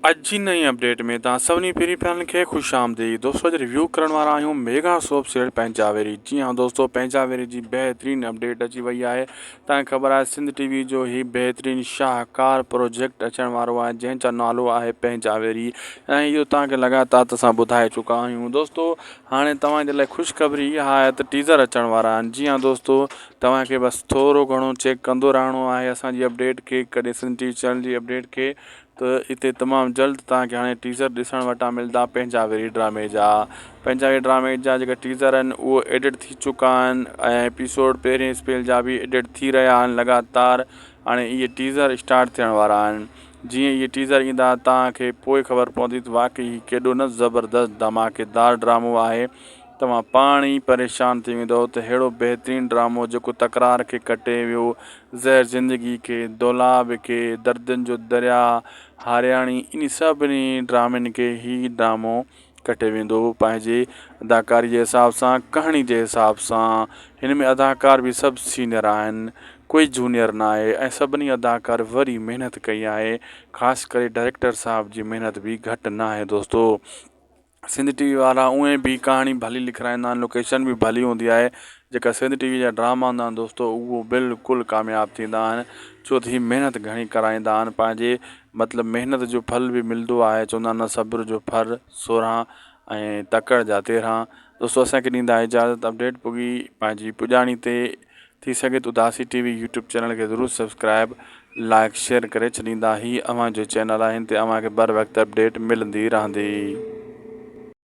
اڄ جي نئين اپڊيٽ ۾ توهان سڀني پھرين پھرين کي خوش آمديد دوستو اڄ ريويو ڪرڻ وارا آهيون ميگا سوپ سيڙ پنجاويري جي ها دوستو پنجاويري جي بهترين اپڊيٽ اچي وئي آهي توهان خبر آهي سنڌ ٽي وي جو هي بهترين شاهڪار پروجيڪٽ اچڻ وارو آهي جنهن جو نالو آهي پنجاويري ۽ اهو توهان کي لڳاتار ته اسان ٻڌائي چڪا آهيون دوستو هاڻي توهان جي لاء خوشخبري اها آهي ته ٽيزر اچڻ وارا آهن جي ها دوستو توهان کي بس ٿورو گهڻو چيڪ ڪندو رهڻو آهي اسان جي اپڊيٽ کي ڪڏهن سنڌ ٽي وي چينل جي اپڊيٽ کي ته اتي تمام جلد توهان کي هاڻي ٽيزر ڏسڻ وٽان ملدا پنهنجا وري ڊرامي جا پنهنجا وري ڊرامي جا جيڪا ٽيزر آهن اهو ايڊٽ ٿي چڪا آهن ۽ ايپيسوڊ پهرين اسپيل جا به ايڊٽ ٿي رهيا آهن لڳاتار هاڻي اهي ٽيزر اسٽارٽ ٿيڻ وارا آهن جيئن اهي ٽيزر ايندا توهان کي پوء خبر پوندي ته واقعي هي ڪيڏو نه زبردست ڌماڪيدار ڊرامو آهي توهان پاڻ ئي پريشان ٿي ويندؤ ته ههڙو بهترين ڊرامو جيڪو تڪرار کي ڪٽي ويو، زهر زندگي کي، دولاب کي، دردن جو درياء، هارياڻي انهي سڀني ڊرامين کي هي ڊرامو ڪٽي ويندو. پنهنجي اداڪاري جي حساب سان، ڪهاڻي جي حساب سان، هن ۾ اداڪار به سڀ سينئر آهن، ڪوئي جونيئر نه آهي ۽ سڀني اداڪار وري محنت ڪئي آهي، خاص ڪري ڊائريڪٽر صاحب جي محنت به گهٽ نه آهي دوستو. سنڌ ٽي وي وارا اونئي به ڪهاڻي ڀلي لکرائيندا آهن لوڪيشن به ڀلي هوندي آهي جيڪا سنڌ ٽي وي جا ڊراما هوندا آهن دوستو اهو بلڪل ڪامياب ٿيندا آهن ڇو ته هي محنت گهڻي ڪرائيندا آهن پنهنجي مطلب محنت جو ڦل به ملندو آهي چوندا آهن نه صبر جو ڦر سورهان ۽ تڪڙ جا تيرهان دوستو اسانکي ڏيندا اجازت اپڊيٽ پڳي پنهنجي پڄاڻي تي ٿي سگهي ته Udasi T V YouTube channel کي ضرور سبسڪرائب لائيڪ شيئر ڪري ڇڏيندا هي اوهان جو چينل آهي هن تي اوهان کي بر وقت اپڊيٽ ملندي رهندي.